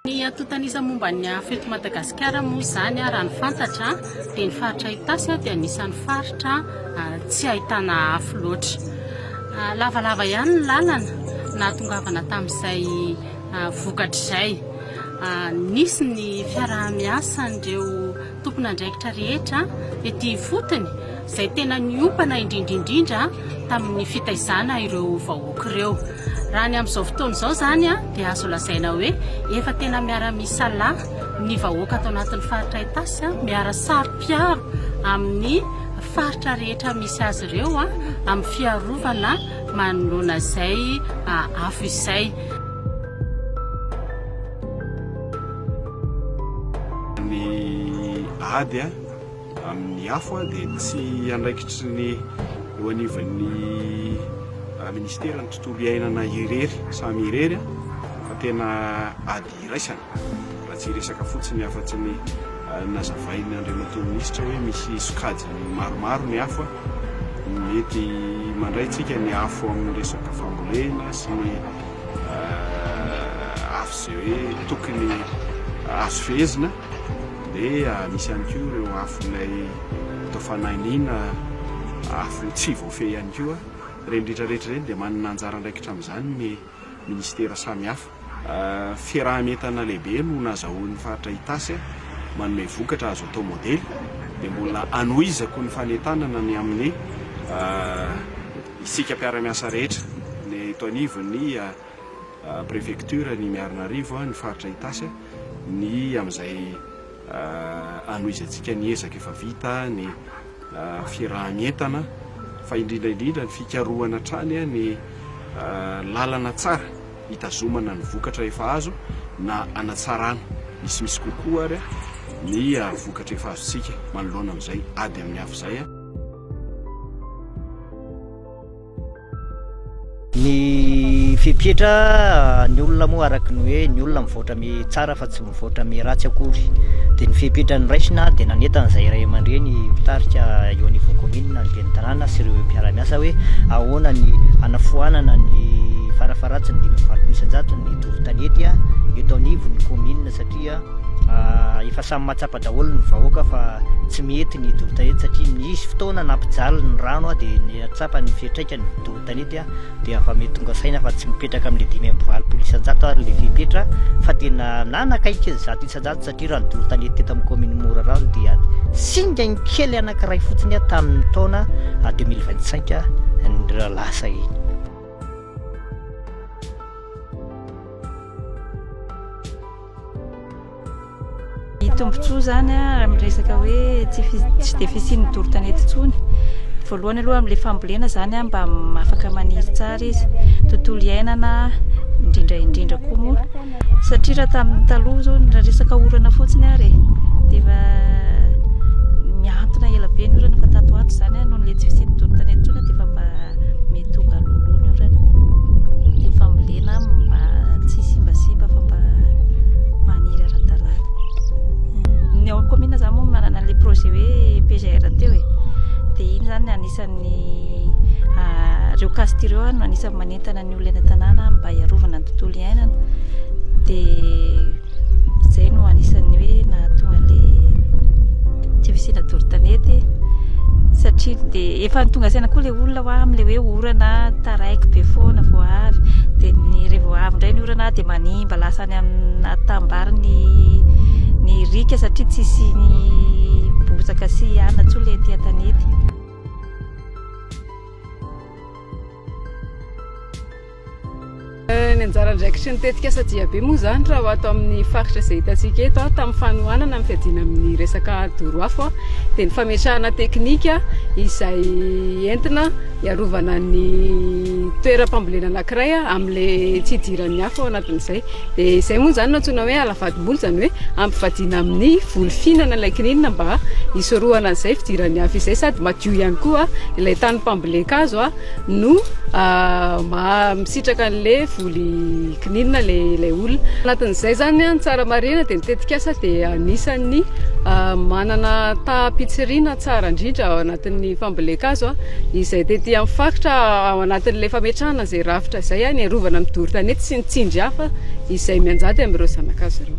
Ny antontanisa momba ny afo eto Madagasikara moa izany raha ny fantatra dia ny faritra Itasy dia anisan'ny faritra tsy ahitana afo loatra. Lavalava ihany ny lalana nahatongavana tamin'izay vokatr'izay. Nisy ny fiaraha-miasan'ireo tompon'andraikitra rehetra ety ifotony izay tena niompana indrindra indrindra tamin'ny fitaizana ireo vahoaka ireo. Raha ny amin'izao fotoana izao izany dia azo lazaina hoe efa tena miara-misalahy ny vahoaka ato anatin'ny faritra Itasy, miara-saro-piaro amin'ny faritra rehetra misy azy ireo amin'ny fiarovana manoloana izay afo izay. Ny ady amin'ny afo dia tsy andraikitry ny eo anivon'ny Minisiteran'ny tontolo iainana irery samy irery fa tena ady iraisana raha tsy hiresaka fotsiny afa-tsy ny nazavain'ny Andriamatoa Minisitra hoe misy sokajiny maromaro ny afo mety mandray tsika ny afo amin'ny resaka fambolena sy ny avy izay hoe tokony azo fehezina dia misy ihany koa ireo afon'ilay atao fanahiniana afo tsy voafehy ihany koa ireny rehetra rehetra ireny dia manana anjara andraikitra amin'izany ny ministera samihafa fiaraha-mientana lehibe no nazahoan'ny faritra Itasy manome vokatra azo atao modely dia mbola hanohizako ny fanentanana ny amin'ny Isika mpiara-miasa rehetra, ny eto anivon'ny prefektioran'i Miarinarivo, ny faritra Itasy, ny amin'izay anohizatsika ny ezaka efa vita, ny firahan'entana, fa indrindra indrindra ny fikarohana hatrany ny lalana tsara hitazomana ny vokatra efa azo na hanatsarana misimisy kokoa ary ny vokatra efa azontsika manoloana amin'izay ady amin'ny afo izay. Ny fepetra ny olona moa araka ny hoe ny olona mivoatra mi tsara fa tsy mivoatra mi ratsy akory dia ny fepetra ny raisina dia nanetana izay iray aman-dreny mpitarika eo anivon'ny kominina ny ben'ny tanàna sy ireo mpiara-miasa hoe ahoana ny hanafoanana ny farafaharatsiny dimy amby valopolo isan-jato ny doro tanety eto anivon'ny kominina satria satria efa samy mahatsapa daholo ny vahoaka fa tsy mety ny dobo tanety satria nisy fotoana nampijaly ny rano a dia nahatsapa ny fiantraikany ny dobo tanety a dia afa mety tonga saina fa tsy mipetraka amin'ilay dimy amby valopolo isan-jato ary ilay fepetra fa tena nanakaiky ny zato isan-jato satria raha ny dobo tanety teto amin'ny kaominy Morarano dia singany kely anankiray fotsiny a tamin'ny taona deux mille vingt cinq ny lasa iny Ny tombontsoa izany raha miresaka hoe tsy dia fisian'ny doro tanety intsony, voalohany aloha amin'ilay fambolena izany mba afaka maniry tsara izy, tontolo iainana indrindra indrindra koa moa satria raha tamin'ny taloha izao raha resaka orana fotsiny ary e, dia efa nihantona ela be ny orana fa tato ho ato izany noho ilay tsy fisian'ny doro tanety intsony dia efa mba mety ho galoloha ny orana, ny fambolena. Tena mba tsy simbasiba fa mba maniry ara-dalàna. Ny ao kaominina izany moa manana an'ilay projet hoe PGR teo e. Dia iny izany anisan'ny ah, ireo cast ireo no anisan'ny manentana ny olona eny an-tanàna mba hiarovana ny tontolo iainana. Dia Izay no anisan'ny hoe nahatonga le tsy fisiana dorotanety satria dia efa tonga saina koa le olona ho amin'le hoe orana taraiky be foana vao avy dia ny re vao avy indray ny orana dia manimba lasa any amina tambary ny ny rika satria tsy isiany bozaka sy anona tsoa le ety an-tanety Eh, ny anjara andraikitry ny tetikasa Diabe moa izany raha ho ato amin'ny faritra izay hitantsika eto ah, tamin'ny fanohanana amin'ny fiadiana amin'ny resaka doro afo ah, dia ny fametrahana teknika izay entina hiarovana ny toeram-pambolena anankiray ah, amin'ilay tsy hidiran'ny afo ao anatin'izay. Dia izay moa izany no antsoina hoe ala vadimboly, izany hoe ampivadiana amin'ny voly fihinana ilay kininina mba hisorohana an'izay fidiran'ny afo izay, sady madio ihany koa ah, ilay tanim-pambolen-kazo. Ah. no maha misitraka an'le voly kininina le ilay olona. Anatin'izay zany ny tsara marihina dia ny tetikasa dia anisan'ny manana taham-pitsiriana tsara indrindra ao anatin'ny fambolen-kazo izay tety amin'ny faritra ao anatin'le fametrahana izay rafitra izay ny arovana amin'ny doro tanety sy ny tsindry hafa izay mianjady amin'ireo zanakazo ireo.